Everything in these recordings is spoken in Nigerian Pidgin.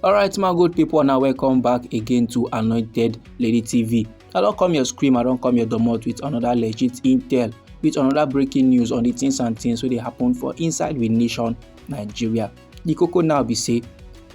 alright my good people now welcome back again to anointed lady tv i don't come your scream i don't come your domot with another legit intel with another breaking news on the things and things wey dey happen for inside the nation nigeria the cocoa now be say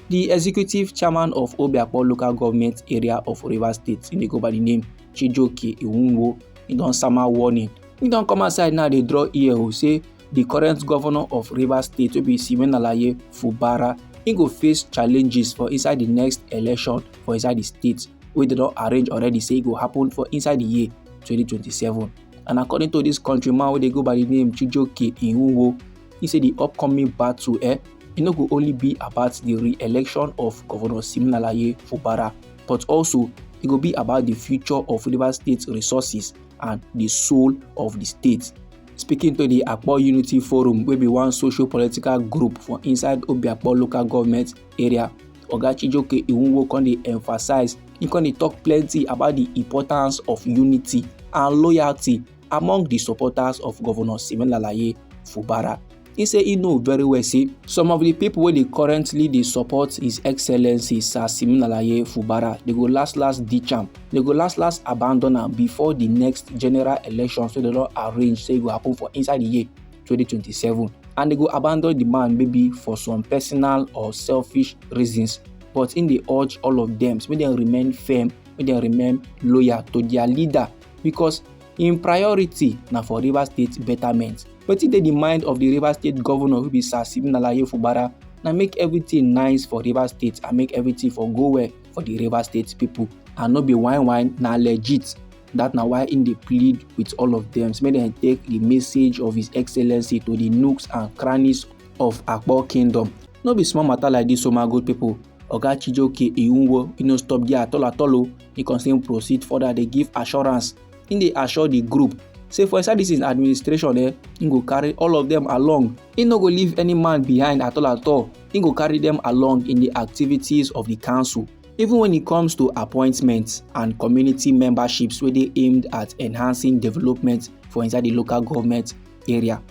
the executive chairman of obiakpo local government area of rivers state he dey go by the name chijoke iwunwo he don sama warning he don come outside now dey draw ear o say di current govnor of rivers state wey be siminalayi fubara e go face challenges for inside di next election for inside di state wey dem don arrange already say e go happen for inside di year 2027 and according to dis country man wey dey go by di name chijoke iwuwo e say di upcoming battle eh e no go only be about di re-election of govnor siminalayi fubara but also e go be about di future of rivers state resources and di soul of di state speaking to di akpo unity forum wey be one social political group for inside obiakpo local government area oga chijoke iwunwo come dey emphasize he come dey talk plenty about the importance of unity and loyalty among the supporters of governor siminalayi fubara He say he know very well say some of the people wey dey currently dey support his excellency sir siminalaye fubara dey go last last ditch am dey go last last abandon am before the next general election so they don arrange say e go happen for inside the year 2027 and they go abandon the man maybe for some personal or selfish reasons but im dey urge all of them make dem remain firm make dem remain loyal to their leader because im priority na for rivers state betterment wetin dey di mind of di rivers state governor wey be sir stephen alaye fubara na make everything nice for rivers state and make everything for go well for di rivers state pipo and no be whine whine na legit dat na why im dey plead with all of dem make dem take di message of his excellency to di nooks and crannies of akpo kingdom no be small matter like dis o my good pipo Oga Chijioke Iwunwo e no stop there at all at all o, e con still proceed further dey give assurance. Im dey assure the group say for inside this im administration eh, im go carry all of them along. Im no go leave any man behind at all at all, im go carry them along in the activities of the council. Even when it comes to appointments and community memberships wey dey aimed at enhancing development for inside the local government area.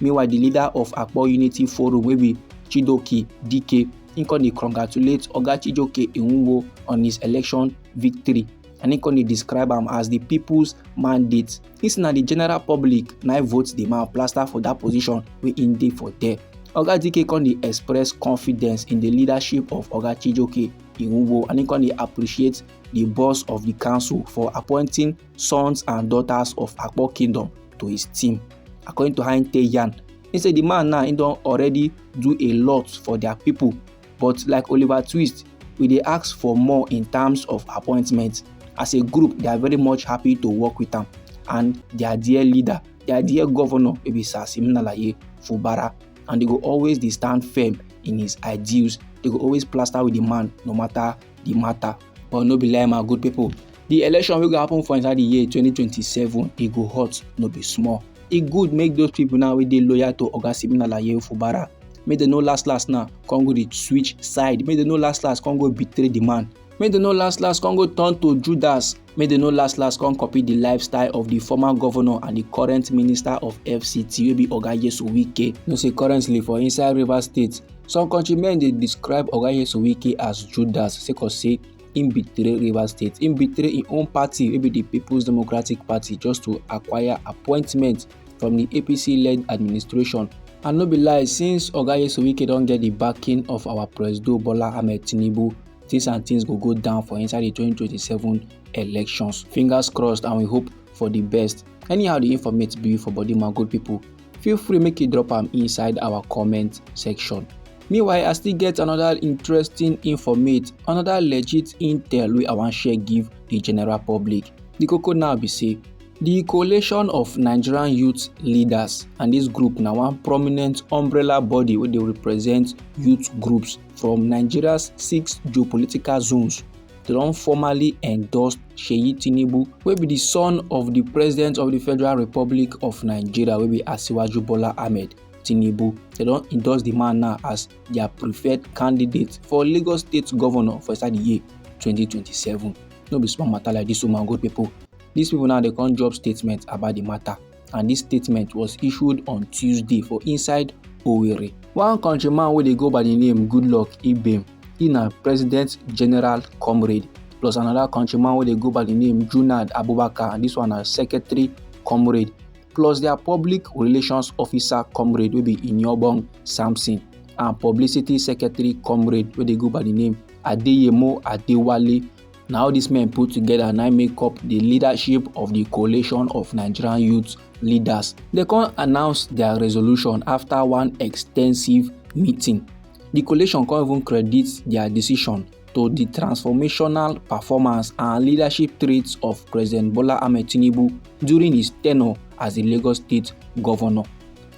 meanwhile di leader of akpo unity forum wey be chidoke dike im come dey congratulate oga chijoke iwunwo on his election victory and im come dey describe am as di peoples mandate im say na di general public na vote di man plaster for dat position wey im dey for there oga dike come dey express confidence in di leadership of oga chijoke iwunwo and im come dey appreciate di boss of di council for appointing sons and daughters of Akpo kingdom to his team. According to Hein Yan, he said the man now he don already do a lot for their people, but like Oliver Twist, we dey ask for more in terms of appointments. As a group, they are very much happy to work with am and their dear leader, their dear governor, wey be Sir Siminalayi Fubara, and they go always dey stand firm in his ideals. They go always plaster with the man no matter the matter. But no be lie, my good people, the election wey go happen for inside the year 2027 e go hot no be small e good make those people now wey dey loyal to oga simeon alaye ofubara make dem no last last now come go dey switch side make dem no last last come go betray the man make dem no last last come go turn to judas make dem no last last come copy the lifestyle of the former governor and the current minister of fct wey be oga yesu wike you know say currently for inside rivers state some countrymen dey describe oga yesu wike as judas sake of say im betray rivers state im betray im own party wey be di peoples democratic party just to acquire appointment from di apc-led administration and no be lie since oga yesowike don get di backing of our presido bola ahmed tinubu things and things go go down for inside di 2027 elections fingers crossed and we hope for di best anyhow di informate be for body man good pipo feel free make you drop am inside our comment section. Meanwhile, I still get another interesting informate, another legit intel wey I wan share give the general public. The koko now be say The coalition of Nigerian youth leaders and this group na one prominent umbrella body wey dey represent youth groups from Nigeria's six geopolitical zones don formally endorse Seyi Tinubu wey be the son of the president of the Federal Republic of Nigeria wey be Asiwaju Bola Ahmed Tinubu. They don endorse the man now as their preferred candidate for Lagos State Governor for inside the year 2027. No be small matter like this woman good people. These people now they come drop statement about the matter. and dis statement was issued on tuesday for inside owerri one countryman wey dey go by di name goodluck ibem e na president general comrade plus another countryman wey dey go by the name Junad Abubakar and this one na secretary comrade plus their public relations officer comrade wey be Inyobong Samson and publicity secretary comrade wey dey go by the name Adeyemo Adewale na all these men put together na make up the leadership of the coalition of nigerian youth leaders they come announce their resolution after one extensive meeting the coalition come even credit their decision to the transformational performance and leadership traits of president bola ahmed tinubu during his tenure as the lagos state governor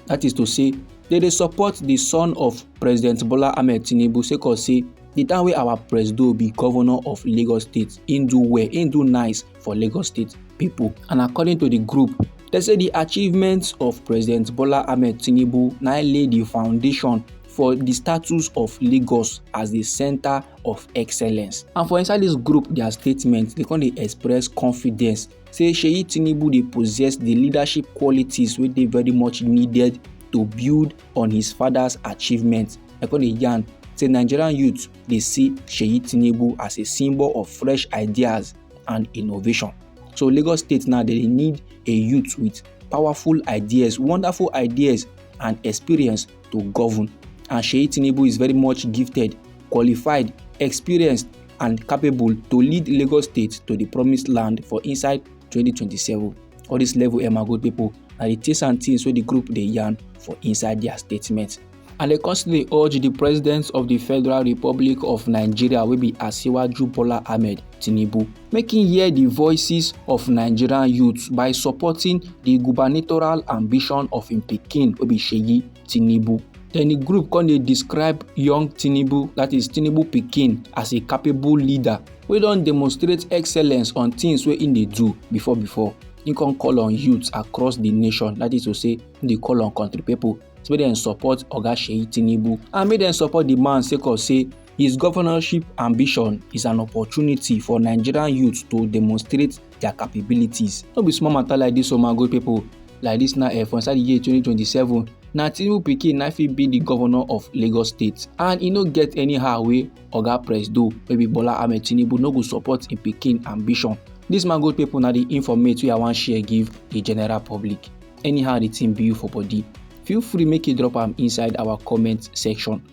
that is to say they dey support the son of president bola ahmed tinubu sake of say the time wey our presido be governor of lagos state he do well he do nice for lagos state people and according to the group they say the achievements of president bola ahmed tinubu now lay the foundation for the status of lagos as the center of excellence and for inside this group their statement they come dey express confidence say seyi tinubu dey possess the leadership qualities wey dey very much needed to build on his father's achievements. I come dey yarn say Nigerian youth dey see Seyi Tinubu as a symbol of fresh ideas and innovation. So Lagos State now they need a youth with powerful ideas, wonderful ideas and experience to govern. And Seyi Tinubu is very much gifted, qualified, experienced and capable to lead Lagos State to the promised land for inside 2027. All this level Emma good people. na the things and things wey the group dey yarn for inside their statement. and dem come still dey urge di president of di federal republic of nigeria wey be asiwaju bola ahmed tinubu make him hear di voices of nigerian youths by supporting di gubernatorial ambition of im pikin wey be seyi Tinubu. Then the group come dey describe young Tinubu, that is Tinubu pikin, as a capable leader wey don demonstrate excellence on things wey im dey do before before. Im come call on youths across the nation, that is to say, im dey call on country people say make dem support Oga Seyi Tinubu and make dem support the man sake of say His governorship ambition is an opportunity for Nigerian youth to demonstrate their capabilities. No be small matter like this, oh my good people. Like this now, eh, for inside the year 2027, na Tinubu pikin na fit be the governor of Lagos State and e no get anyhow wey Oga Presido wey be Bola Ahmed Tinubu no go support im pikin ambition. This man good people na the informate wey I wan share give the general public. Anyhow the thing be you for body, feel free make you drop am inside our comment section.